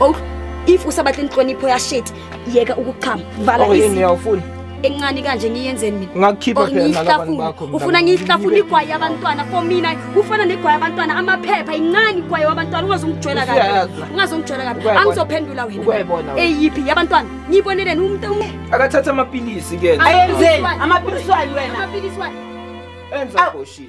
Oh, if usabatla inhlonipho ya shit, yeka ukuchama. Vala Oh, yini isi. awufuni? Encane kanje ngiyenzeni mina? Ngakukhipha Or phela nalabantu ngiyihlafune. bakho, mntana. Ufuna ngiyihlafune igwayi yabantwana for mina. Kufana negwayi yabantwana amaphepha incane igwayi yabantwana ungazongijwela kabi. Usuyayazi. Ungazongijwela kabi. Ukwayibona. Angizophendula wena. Ukwayibona wena. Eyiphi yabantwana? Ngiboneleni umuntu ume. Akathatha amapilisi ke. Ayenzeni? Amaphilisi wani wena? Amaphilisi wani? Enza Awu. goshini.